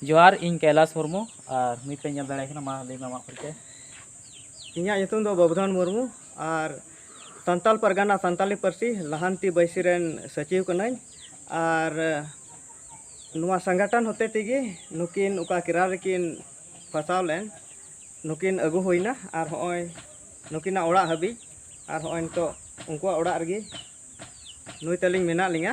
ᱡᱚᱦᱟᱨ ᱤᱧ ᱠᱟᱭᱞᱟᱥ ᱢᱩᱨᱢᱩ ᱟᱨ ᱱᱤᱛ ᱯᱮ ᱧᱮᱞ ᱫᱟᱲᱮᱭᱟᱜ ᱠᱟᱱᱟ ᱢᱟ ᱞᱟᱹᱭ ᱢᱮ ᱟᱢᱟᱜ ᱯᱚᱨᱤᱪᱚᱭ ᱤᱧᱟᱹᱜ ᱧᱩᱛᱩᱢ ᱫᱚ ᱵᱟᱵᱩᱫᱷᱚᱱ ᱢᱩᱨᱢᱩ ᱟᱨ ᱥᱟᱱᱛᱟᱞ ᱯᱟᱨᱜᱟᱱᱟ ᱥᱟᱱᱛᱟᱞᱤ ᱯᱟᱹᱨᱥᱤ ᱞᱟᱦᱟᱱᱛᱤ ᱵᱟᱹᱭᱥᱤ ᱨᱮᱱ ᱥᱚᱪᱤᱵᱽ ᱠᱟᱹᱱᱟᱹᱧ ᱟᱨ ᱱᱚᱣᱟ ᱥᱚᱝᱜᱚᱴᱷᱚᱱ ᱦᱚᱛᱮ ᱛᱮᱜᱮ ᱱᱩᱠᱤᱱ ᱚᱠᱟ ᱠᱮᱨᱟᱞ ᱨᱮᱠᱤᱱ ᱯᱷᱟᱥᱟᱣ ᱞᱮᱱ ᱱᱩᱠᱤᱱ ᱟᱹᱜᱩ ᱦᱩᱭᱱᱟ ᱟᱨ ᱦᱚᱸᱜᱼᱚᱭ ᱱᱩᱠᱤᱱᱟᱜ ᱚᱲᱟᱜ ᱦᱟᱹᱵᱤᱡ ᱟᱨ ᱦᱚᱸᱜᱼᱚᱭ ᱱᱤᱛᱚᱜ ᱩᱱᱠᱩᱣᱟᱜ ᱚᱲᱟᱜ ᱨᱮᱜᱮ ᱱᱩᱭ ᱛᱟᱹᱞᱤᱧ ᱢᱮᱱᱟᱜ ᱞᱤᱧᱟᱹ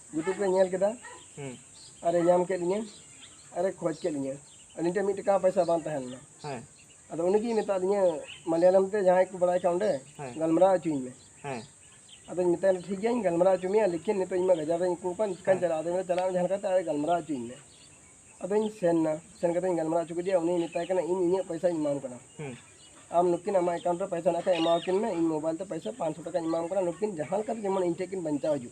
ᱭᱩᱴᱩᱵᱽ ᱨᱮ ᱧᱮᱞ ᱠᱮᱫᱟ ᱟᱨᱮ ᱧᱟᱢ ᱠᱮᱫ ᱞᱤᱧᱟᱹ ᱟᱨᱮ ᱠᱷᱚᱡᱽ ᱠᱮᱫ ᱞᱤᱧᱟᱹ ᱟᱹᱞᱤᱧ ᱴᱷᱮᱱ ᱢᱤᱫ ᱴᱟᱠᱟ ᱯᱚᱭᱥᱟ ᱵᱟᱝ ᱛᱟᱦᱮᱸ ᱞᱮᱱᱟ ᱟᱫᱚ ᱩᱱᱤ ᱜᱮᱭ ᱢᱮᱛᱟᱜ ᱞᱤᱧᱟᱹ ᱢᱟᱞᱭᱟᱞᱚᱢ ᱛᱮ ᱡᱟᱦᱟᱸᱭ ᱠᱚ ᱵᱟᱲᱟᱭ ᱠᱷᱟᱱ ᱚᱸᱰᱮ ᱜᱟᱞᱢᱟᱨᱟᱣ ᱦᱚᱪᱚᱧ ᱢᱮ ᱟᱫᱚᱧ ᱢᱮᱛᱟᱭ ᱴᱷᱤᱠ ᱜᱮᱭᱟᱧ ᱜᱟᱞᱢᱟᱨᱟᱣ ᱦᱚᱪᱚ ᱢᱮᱭᱟ ᱞᱮᱠᱤᱱ ᱱᱤᱛᱚᱜ ᱤᱧ ᱢᱟ ᱜᱟᱡᱟᱲ ᱨᱮᱧ ᱟᱹᱭᱠᱟᱹᱣ ᱠᱟᱱ ᱪᱤᱠᱟᱹᱧ ᱪᱟᱞᱟᱜᱼᱟ ᱟᱫᱚ ᱢᱮᱱᱫᱟ ᱪᱟᱞᱟᱜ ᱢᱮ ᱡᱟᱦᱟᱸ ᱞᱮᱠᱟᱛᱮ ᱟᱨ ᱜᱟᱞᱢᱟᱨᱟᱣ ᱦᱚᱪᱚᱧ ᱢᱮ ᱟᱫᱚᱧ ᱥᱮᱱ ᱮᱱᱟ ᱥᱮᱱ ᱠᱟᱛᱮᱧ ᱜᱟᱞᱢᱟᱨᱟᱣ ᱦᱚᱪᱚ ᱠᱮᱫᱮᱭᱟ ᱩᱱᱤ ᱢᱮᱛᱟᱭ ᱠᱟᱱᱟ ᱤᱧ ᱤᱧᱟᱹᱜ ᱯᱚᱭᱥᱟᱧ ᱮᱢᱟᱢ ᱠᱟᱱᱟ ᱟᱢ ᱱᱩᱠᱤᱱ ᱟᱢᱟᱜ ᱮᱠᱟᱣᱩᱱᱴ ᱨᱮ ᱯᱚᱭᱥᱟ ᱢᱮᱱᱟᱜ ᱠᱷᱟᱱ ᱮᱢᱟᱣᱟᱠᱤᱱ ᱢᱮ ᱤᱧ ᱢᱳᱵᱟᱭᱤᱞ ᱛᱮ ᱯᱚᱭᱥᱟ ᱯᱟᱸᱪᱥᱚ ᱴᱟᱠᱟᱧ ᱮᱢᱟᱢ ᱠᱟᱱᱟ ᱱᱩᱠᱤᱱ ᱡᱟᱦᱟᱸ ᱞᱮᱠᱟᱛᱮ ᱡᱮᱢᱚᱱ ᱤᱧ ᱴᱷᱮᱱ ᱠᱤᱱ ᱵᱟᱧᱪᱟᱣ ᱦᱤᱡᱩᱜ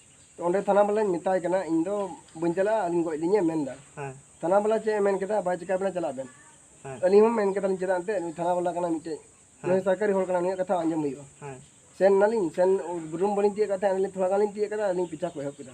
ᱚᱸᱰᱮ ᱛᱷᱟᱱᱟ ᱵᱟᱞᱟᱧ ᱢᱮᱛᱟᱭ ᱠᱟᱱᱟ ᱤᱧ ᱫᱚ ᱵᱟᱹᱧ ᱪᱟᱞᱟᱜᱼᱟ ᱟᱹᱞᱤᱧ ᱜᱚᱡ ᱞᱤᱧᱮ ᱢᱮᱱ ᱮᱫᱟ ᱛᱷᱟᱱᱟ ᱵᱟᱞᱟ ᱪᱮᱫ ᱮ ᱢᱮᱱ ᱠᱮᱫᱟ ᱵᱟᱭ ᱪᱤᱠᱟᱹ ᱵᱮᱱᱟ ᱪᱟᱞᱟᱜ ᱵᱮᱱ ᱟᱹᱞᱤᱧ ᱦᱚᱸ ᱢᱮᱱ ᱠᱮᱫᱟᱞᱤᱧ ᱪᱮᱫᱟᱜ ᱮᱱᱛᱮᱫ ᱱᱩᱭ ᱛᱷᱟᱱᱟ ᱵᱟᱞᱟ ᱠᱟᱱᱟ ᱢᱤᱫᱴᱮᱡ ᱱᱩᱭ ᱥᱚᱨᱠᱟᱨᱤ ᱦᱚᱲ ᱠᱟᱱᱟ ᱱᱩᱭᱟᱜ ᱠᱟᱛᱷᱟ ᱟᱸᱡᱚᱢ ᱦᱩᱭᱩᱜᱼᱟ ᱥᱮᱱ ᱱᱟᱞᱤᱧ ᱥᱮᱱ ᱨᱩᱢ ᱵᱟᱹᱞᱤᱧ ᱛᱤᱭᱟᱹᱜ ᱠᱟᱛᱮ ᱟᱹᱞᱤᱧ ᱛᱷᱚᱲᱟ ᱜᱟᱱ ᱞᱤᱧ ᱛᱤᱭᱟᱹᱜ ᱠᱮᱫᱟ ᱟᱹᱞᱤᱧ ᱯᱤᱪᱷᱟ ᱠᱚ ᱮᱦᱚᱵ ᱠᱮᱫᱟ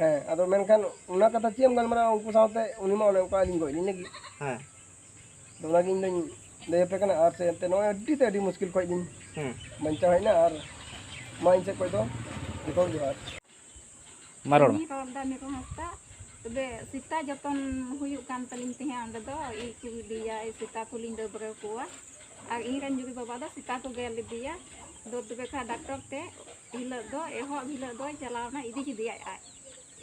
ᱦᱮᱸ ᱟᱫᱚ ᱢᱮᱱᱠᱷᱟᱱ ᱚᱱᱟ ᱠᱟᱛᱷᱟ ᱪᱮᱫ ᱮᱢ ᱜᱟᱞᱢᱟᱨᱟᱣᱟ ᱩᱱᱠᱩ ᱥᱟᱶᱛᱮ ᱩᱱᱤ ᱢᱟ ᱚᱱᱮ ᱚᱱᱠᱟ ᱟᱹᱞᱤᱧ ᱜᱚᱡ ᱞᱤᱧ ᱞᱟᱹᱜᱤᱫ ᱦᱮᱸ ᱟᱫᱚ ᱚᱱᱟᱜᱮ ᱤᱧ ᱫᱚᱧ ᱞᱟᱹᱭ ᱟᱯᱮ ᱠᱟᱱᱟ ᱟᱨ ᱥᱮ ᱮᱱᱛᱮ ᱱᱚᱜᱼᱚᱭ ᱟᱹᱰᱤ ᱛᱮ ᱟᱹᱰᱤ ᱢᱩᱥᱠᱤᱞ ᱠᱷᱚᱡ ᱞᱤᱧ ᱦᱮᱸ ᱵᱟᱧᱪᱟᱣ ᱦᱮᱡ ᱮᱱᱟ ᱟᱨ ᱢᱟ ᱤᱧ ᱥᱮᱫ ᱠᱷᱚᱡ ᱫᱚ ᱡᱚᱛᱚ ᱡᱚᱦᱟᱨ ᱢᱟ ᱨᱚᱲ ᱢᱮ ᱤᱧ ᱨᱚᱲᱫᱟ ᱢᱤᱨᱩ ᱦᱟᱸᱥᱫᱟ ᱛᱚᱵᱮ ᱥᱮᱛᱟ ᱡᱚᱛᱚᱱ ᱦᱩᱭᱩᱜ ᱠᱟᱱ ᱛᱟᱹᱞᱤᱧ ᱛᱟᱦᱮᱸᱫ ᱚᱸᱰᱮ ᱫᱚ ᱤ ᱠᱚ ᱤᱫᱤᱭᱟ ᱤ ᱥᱮᱛᱟ ᱠᱚᱞᱤᱧ ᱰᱟᱹᱵᱽᱨᱟᱹ ᱠᱚᱣᱟ ᱟᱨ ᱤᱧ ᱨᱮᱱ ᱡᱩᱨᱤ ᱵᱟᱵᱟ ᱫᱚ ᱥᱮᱛᱟ ᱠᱚ ᱜᱮᱨ ᱞᱮᱫᱮᱭᱟ ᱟᱫᱚ ᱛᱚᱵᱮ ᱠᱷᱟᱱ ᱰᱟᱠᱴᱚᱨ ᱛᱮ ᱦᱤᱞᱳᱜ ᱫᱚ ᱮᱦᱚᱵ ᱦᱤᱞᱳᱜ ᱫᱚᱭ ᱪᱟᱞᱟᱣᱱᱟ ᱤᱫᱤ ᱠᱮᱫᱮᱭᱟᱭ ᱟᱡ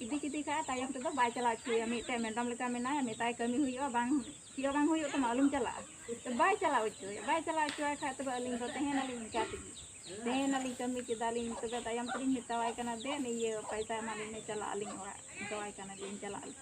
ᱤᱫᱤ ᱠᱮᱫᱮ ᱠᱷᱟᱡ ᱛᱟᱭᱚᱢ ᱛᱮᱫᱚ ᱵᱟᱭ ᱪᱟᱞᱟᱣ ᱦᱚᱪᱚᱭᱟ ᱢᱤᱫᱴᱮᱡ ᱢᱮᱰᱟᱢ ᱞᱮᱠᱟ ᱢᱮᱱᱟᱭᱟ ᱢᱮᱛᱟᱭ ᱠᱟᱹᱢᱤ ᱦᱩᱭᱩᱜᱼᱟ ᱵᱟᱝ ᱪᱮᱫ ᱦᱚᱸ ᱵᱟᱝ ᱦᱩᱭᱩᱜ ᱛᱟᱢᱟ ᱟᱞᱚᱢ ᱪᱟᱞᱟᱜᱼᱟ ᱛᱚ ᱵᱟᱭ ᱪᱟᱞᱟᱣ ᱦᱚᱪᱚᱭᱟ ᱵᱟᱭ ᱪᱟᱞᱟᱣ ᱦᱚᱪᱚᱭ ᱠᱷᱟᱡ ᱛᱚᱵᱮ ᱟᱹᱞᱤᱧ ᱫᱚ ᱛᱟᱦᱮᱱᱟᱞᱤᱧ ᱤᱱᱠᱟ ᱛᱮᱜᱮ ᱛᱟᱦᱮᱱᱟᱞᱤᱧ ᱠᱟᱹᱢᱤ ᱠᱮᱫᱟᱞᱤᱧ ᱛᱚᱵᱮ ᱛᱟᱭᱚᱢ ᱛᱮᱞᱤᱧ ᱢᱮᱛᱟᱣᱟᱭ ᱠᱟᱱᱟ ᱫᱮᱱ ᱤᱭᱟᱹ ᱯᱚᱭᱥᱟ ᱮᱢᱟᱞᱤᱧ ᱢᱮ ᱪᱟᱞᱟᱜ ᱟᱹᱞᱤᱧ ᱚᱲᱟᱜ ᱢᱮᱛᱟᱣᱟᱭ ᱠᱟᱱᱟ ᱡᱮ ᱪᱟᱞᱟᱜ ᱟᱹᱞᱤᱧ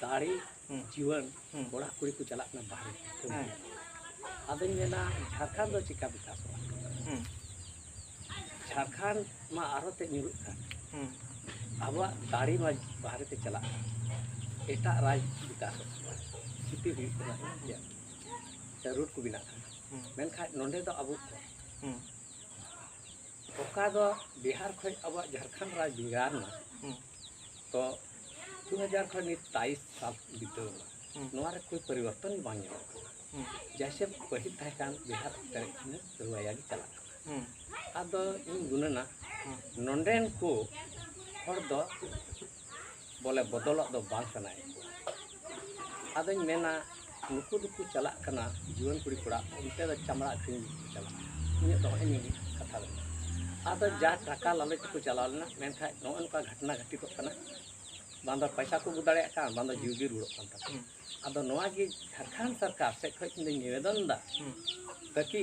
ᱫᱟᱲᱮ ᱡᱤᱭᱚᱱ ᱠᱚᱲᱟ ᱠᱩᱲᱤ ᱠᱚ ᱪᱟᱞᱟᱜ ᱠᱟᱱᱟ ᱵᱟᱦᱨᱮ ᱠᱟᱹᱢᱤ ᱟᱫᱚᱧ ᱢᱮᱱᱟ ᱡᱷᱟᱲᱠᱷᱚᱸᱰ ᱫᱚ ᱪᱮᱠᱟ ᱵᱤᱠᱟᱥᱚᱜᱼᱟ ᱡᱷᱟᱲᱠᱷᱚᱸᱰ ᱢᱟ ᱟᱨᱦᱚᱸ ᱛᱮ ᱧᱩᱨᱩᱜ ᱠᱟᱱ ᱟᱵᱚᱣᱟᱜ ᱫᱟᱲᱮ ᱢᱟ ᱵᱟᱦᱨᱮ ᱛᱮ ᱪᱟᱞᱟᱜ ᱠᱟᱱ ᱮᱴᱟᱜ ᱨᱟᱡᱽ ᱵᱤᱠᱟᱥᱚᱜ ᱠᱟᱱᱟ ᱠᱷᱤᱛᱤ ᱦᱩᱭᱩᱜ ᱠᱟᱱᱟ ᱨᱩᱴ ᱠᱚ ᱵᱮᱱᱟᱜ ᱠᱟᱱᱟ ᱢᱮᱱᱠᱷᱟᱱ ᱱᱚᱰᱮ ᱫᱚ ᱟᱵᱚ ᱠᱚ ᱚᱠᱟ ᱫᱚ ᱵᱤᱦᱟᱨ ᱠᱷᱚᱱ ᱟᱵᱚᱣᱟᱜ ᱡᱷᱟᱲᱠᱷᱚᱸᱰ ᱨᱟᱡᱽ ᱵᱷᱮᱜᱟᱨ ᱮᱱᱟ ᱛᱚ ᱫᱩ ᱦᱟᱡᱟᱨ ᱠᱷᱚᱱ ᱱᱤᱛ ᱛᱟᱭᱤᱥ ᱥᱟᱞ ᱵᱤᱛᱟᱹᱣ ᱮᱱᱟ ᱱᱚᱣᱟ ᱨᱮ ᱠᱳᱭ ᱯᱚᱨᱤᱵᱚᱨᱛᱚᱱ ᱵᱟᱝ ᱧᱮᱞᱚᱜ ᱠᱟᱱᱟ ᱡᱮᱭᱥᱮ ᱯᱟᱹᱦᱤᱞ ᱛᱟᱦᱮᱸ ᱠᱟᱱ ᱵᱤᱦᱟᱨ ᱯᱮᱨᱮᱡ ᱠᱷᱚᱱ ᱨᱩᱣᱟᱭᱟ ᱜᱮ ᱪᱟᱞᱟᱜ ᱠᱟᱱᱟ ᱟᱫᱚ ᱤᱧ ᱜᱩᱱᱟᱹᱱᱟ ᱱᱚᱰᱮᱱ ᱠᱚ ᱦᱚᱲ ᱫᱚ ᱵᱚᱞᱮ ᱵᱚᱫᱚᱞᱚᱜ ᱫᱚ ᱵᱟᱝ ᱥᱟᱱᱟᱭᱮᱫ ᱠᱚᱣᱟ ᱟᱫᱚᱧ ᱢᱮᱱᱟ ᱱᱩᱠᱩ ᱫᱚᱠᱚ ᱪᱟᱞᱟᱜ ᱠᱟᱱᱟ ᱡᱩᱣᱟᱹᱱ ᱠᱩᱲᱤ ᱠᱚᱲᱟ ᱚᱱᱛᱮ ᱫᱚ ᱪᱟᱢᱲᱟ ᱟᱹᱠᱷᱨᱤᱧ ᱞᱟᱹᱜᱤᱫ ᱠᱚ ᱪᱟᱞᱟᱜᱼᱟ ᱤᱧᱟᱹᱜ ᱫᱚ ᱱᱚᱜᱼᱚᱭ ᱱᱤᱭᱟᱹ ᱠᱟᱛᱷᱟ ᱫᱚ ᱟᱫᱚ ᱡᱟ ᱴᱟᱠᱟ ᱞᱟᱞᱚᱪ ᱛᱮᱠᱚ ᱪᱟᱞᱟᱣ ᱞᱮᱱᱟ ᱢᱮᱱᱠᱷᱟᱡ ᱱᱚᱜᱼᱚ ᱱᱚᱝᱠᱟ ᱜᱷᱚᱴᱱᱟ ᱜᱷᱟᱹᱴᱤᱛᱚᱜ ᱠᱟᱱᱟ ᱵᱟᱝ ᱫᱚ ᱯᱚᱭᱥᱟ ᱠᱚ ᱟᱹᱜᱩ ᱫᱟᱲᱮᱭᱟᱜ ᱠᱟᱱ ᱵᱟᱝ ᱫᱚ ᱡᱤᱣᱤ ᱜᱮ ᱨᱩᱣᱟᱹᱲᱚᱜ ᱠᱟᱱ ᱛᱟᱠᱚᱣᱟ ᱟᱫᱚ ᱱᱚᱣᱟ ᱜᱮ ᱡᱷᱟᱲᱠᱷᱚᱸᱰ ᱥᱚᱨᱠᱟᱨ ᱥᱮᱫ ᱠᱷᱚᱡ ᱤᱧ ᱫᱚᱧ ᱱᱤᱵᱮᱫᱚᱱ ᱮᱫᱟ ᱛᱟᱠᱤ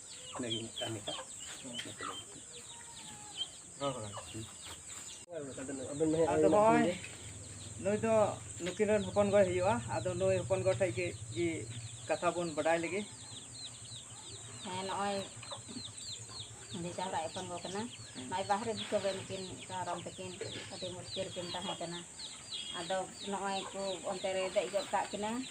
ᱟᱫᱚ ᱱᱚᱜᱼᱚᱭ ᱱᱩᱭ ᱫᱚ ᱱᱩᱠᱤᱱ ᱨᱮᱱ ᱦᱚᱯᱚᱱ ᱜᱚᱭ ᱦᱩᱭᱩᱜᱼᱟ ᱟᱫᱚ ᱱᱩᱭ ᱦᱚᱯᱚᱱ ᱜᱚ ᱴᱷᱮᱡ ᱜᱮ ᱜᱮ ᱠᱟᱛᱷᱟ ᱵᱚᱱ ᱵᱟᱰᱟᱭ ᱞᱟᱹᱜᱤᱫ ᱦᱮᱸ ᱱᱚᱜᱼᱚᱭ ᱵᱷᱮᱡᱟ ᱦᱚᱲᱟᱜ ᱦᱚᱯᱚᱱ ᱜᱚ ᱠᱟᱱᱟ ᱱᱚᱜᱼᱚᱭ ᱵᱟᱦᱨᱮ ᱫᱤᱥᱚᱢ ᱨᱮ ᱱᱩᱠᱤᱱ ᱨᱟᱢ ᱛᱟᱹᱠᱤᱱ ᱟᱹᱰᱤ ᱢᱩᱥᱠᱤᱞ ᱨᱮᱠᱤᱱ ᱛᱟᱦᱮᱸ ᱠᱟᱱᱟ ᱟᱫᱚ ᱱᱚᱜᱼᱚᱭ ᱠᱚ ᱚᱱᱛᱮ ᱨᱮ ᱫᱮᱡ ᱜᱚᱫ ᱠᱟᱜ ᱠᱤᱱᱟᱹ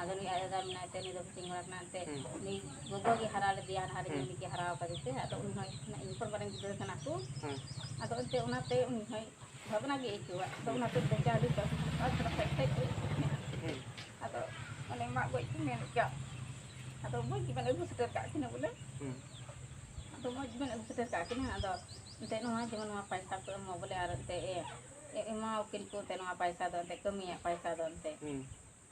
ᱟᱫᱚ ᱱᱩᱭ ᱟᱡ ᱫᱟᱫᱟ ᱢᱮᱱᱟᱭ ᱛᱮ ᱱᱩᱭ ᱫᱚ ᱠᱳᱪᱤᱝ ᱠᱚᱲᱟ ᱠᱟᱱᱟ ᱮᱱᱛᱮᱫ ᱱᱩᱭ ᱜᱚᱜᱚ ᱜᱮ ᱦᱟᱨᱟ ᱞᱮᱫᱮᱭᱟ ᱦᱟᱱᱦᱟᱨ ᱨᱮᱜᱮ ᱩᱱᱤ ᱜᱮ ᱦᱟᱨᱟ ᱟᱠᱟᱫᱮ ᱛᱮ ᱟᱫᱚ ᱩᱱᱤ ᱦᱚᱸ ᱤᱧ ᱠᱷᱚᱱ ᱢᱟᱨᱟᱝ ᱜᱤᱫᱽᱨᱟᱹ ᱠᱟᱱᱟ ᱠᱚ ᱟᱫᱚ ᱮᱱᱛᱮᱫ ᱚᱱᱟᱛᱮ ᱩᱱᱤ ᱦᱚᱸᱭ ᱵᱷᱟᱵᱽᱱᱟ ᱜᱮ ᱟᱹᱭᱠᱟᱹᱣᱟ ᱟᱫᱚ ᱚᱱᱟᱛᱮ ᱵᱮᱡᱟᱨ ᱟᱹᱰᱤ ᱠᱟᱹᱢᱤ ᱟᱨ ᱛᱷᱚᱲᱟ ᱠᱷᱟᱡ ᱠᱷᱟᱡ ᱜᱚᱡ ᱟᱫᱚ ᱚᱱᱮ ᱢᱟᱜ ᱜᱚᱡ ᱠᱚ ᱢᱮᱱ ᱠᱮᱫᱟ ᱟᱫᱚ ᱢᱚᱡᱽ ᱜᱮᱵᱮᱱ ᱟᱹᱜᱩ ᱥᱮᱴᱮᱨ ᱠᱟᱜ ᱠᱤᱱᱟ ᱵᱚᱞᱮ ᱟᱫᱚ ᱢᱚᱡᱽ ᱜᱮᱵᱮᱱ ᱟᱹᱜᱩ ᱥᱮᱴᱮᱨ ᱠᱟᱜ ᱠᱤᱱᱟ ᱟᱫᱚ ᱮᱱᱛᱮᱫ ᱱᱚᱣᱟ ᱡᱮᱢᱚᱱ ᱱᱚᱣᱟ ᱯᱟᱭᱥᱟ ᱠᱚ ᱮᱢᱚᱜ ᱵᱚᱞᱮ ᱟᱨ ᱮᱱᱛᱮᱫ ᱮᱢᱟᱣᱟᱠᱤᱱ ᱠᱚ ᱮᱱᱛᱮᱫ ᱱᱚᱣᱟ ᱯᱟᱭᱥᱟ ᱫᱚ ᱮᱱᱛᱮᱫ ᱠᱟᱹᱢᱤᱭᱟᱜ ᱯᱟᱭᱥᱟ ᱫᱚ ᱮᱱᱛᱮᱫ